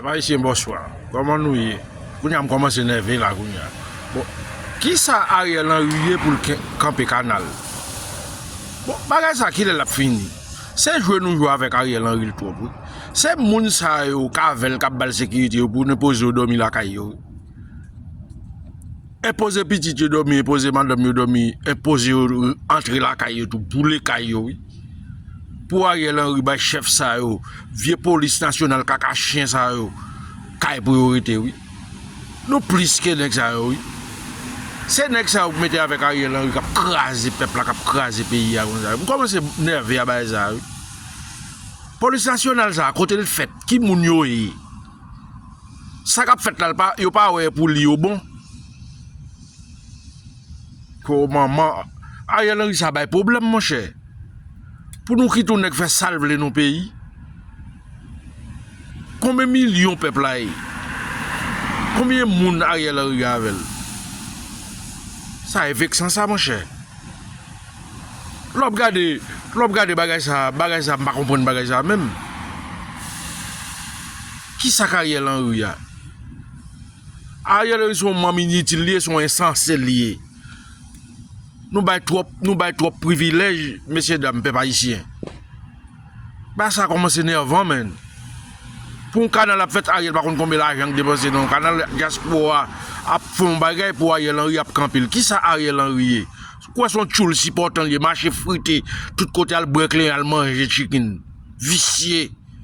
Pèp ayisyen bòswa kòman nou ye kounye a m kòmanse nève la kounye a bon kisa Ariel Henry ye poul kanpe kanal bon bagay sa kilè lap fini se jwe nou jwe avèk Ariel Henry l twòp wi se moun sa yo k avèl kap bal sekirite yo pou nou poze yo dòmi lakay yo wi. Enpoze pitit yo dòmi, enpoze madanm yo dòmi, enpoze yo antre lakay yo tou, boule kay yo wi. Pou Ariel Henry bay chèf sa yo, vye polis nasyonal kaka chyen sa yo, kay pou yo rete wi. Nou plis ke nèg sa yo wi. Se nèg sa yo ki mete avèk Ariel Henry kap kraze pèp la, kap kraze peyi a konsa. M kòmanse nève a bagay sa yo wi. Polis nasyonal sa a, kote l fèt, ki moun yo ye? Sa kap fèt la yo pa wè pou li yo bon. Ho manman Ariel Henry sa bay pwoblèm monchè. Pou nou kite yon nèg fè sal vle nan yon peyi. Konbyen milyon pèp la ye? Konbyen moun Ariel Henry gen avèl? Sa e veksan sa monchè. Lè w ap gade, lè w ap gade bagay sa, bagay sa m pa konprann bagay sa menm. Kisak Ariel Henry a? Ariel Henry se yon manm initil li ye, se yon ensanse li ye. Nou bay twòp, nou bay twòp privilèj mesye dam pèp ayisyen. Bagay sa kòmanse nèvan menn. Pou yon kanal ap fèt Ariel pa konn konbyen lajan li depanse nan yon kanal, dyaspora ap fè yon bagay pou Ariel Henry ap kanpe l. Kisa Ariel Henry ye? Ou kwè se yon tchoul sipòtan li ye, mache frite tout kote al bwè kleren, al manje tchikin. Visye.